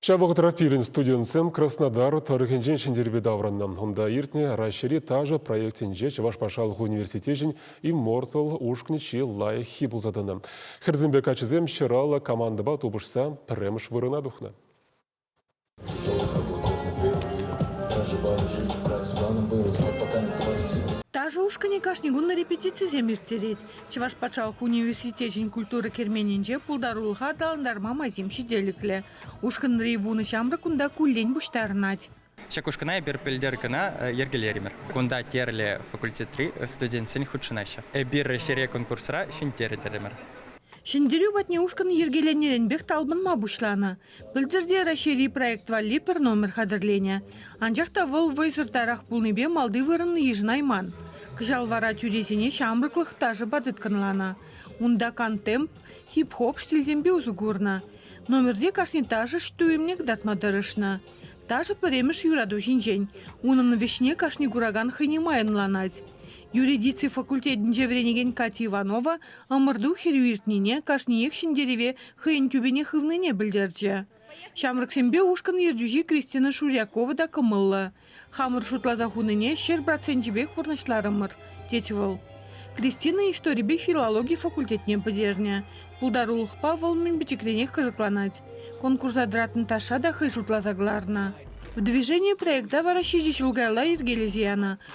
Ҫав вӑхӑтра пирӗн студентсем Краснодар тӑрӑхӗнчен Ҫӗнтерпе таврӑннӑ. Унта иртнӗ Раҫҫейри ташӑ проектӗнче Чӑваш патшалӑх университечӗн Immortal ушкӑн чи лайӑххи пулса тӑнӑ. Хӗрсемпе каччӑсем ҫӑраллӑ командӑпа тупӑшса пӗрремӗш вырӑна тухнӑ. Ташӑ ушкӑнӗ кашни кун репетицисем ирттерет. Чӑваш патшалӑх университечӗн культура керменӗнче пултарулӑха аталантарма майсем ҫителӗклӗ. Ушкӑнри вунӑ ҫамрӑк унта куллен пуҫтарӑнать. Ҫак ушкӑна эпир пӗлтер кӑна йӗркелерӗмӗр. Кунта тӗрлӗ факультетри студентсен хутшӑнаҫҫӗ. Эпир ҫӗре конкурсра ҫӗнтертӗмӗр. Ҫӗнтерӳ патне ушкӑн йӗркеленӗренпех талпӑнма пуҫланӑ. Пӗлтӗрте Раҫҫейри проект валли пӗр номер хатӗрленӗ. Анчах та вӑл вӑйсӑртарах пулнипе малти вырӑн йышӑнайман. Кӑҫал вара тӳресене ҫамрӑклӑх ташӑпа тыткӑнланӑ. Унта кантемп, хип-хоп стильсемпе усӑ курнӑ. Номерте кашни ташӑш туйӑмне кӑтартма тӑрӑшнӑ. Ташӑ пӗрремӗш юрату ҫинчен. Унӑн вӗҫне кашни куракан хӑйне май ӑнланать. Юридици факультетӗнче вӗренекен Катя Иванова ӑмӑрту хӗрӳ иртнине, кашниех ҫӗнтерӗве хӑйӗн тӳпене хывнине пӗлтерчӗ. Ҫамрӑксемпе ушкӑн ертӳҫи Кристина Шурякова та кӑмӑллӑ. Хамӑр шутласа хунине ҫӗр проценчӗпех пурнӑҫларӑмӑр, тет вӑл. Кристина историпе филологи факультетне пӗтернӗ. Пултарулӑхпа вӑл мӗн пӗчӗкренех кӑсӑкланать. Конкурса тӑратнӑ ташша та хӑй шутласа кӑларнӑ. В движении проекта вара ҫичӗ ҫул каялла йӗркелесе янӑ.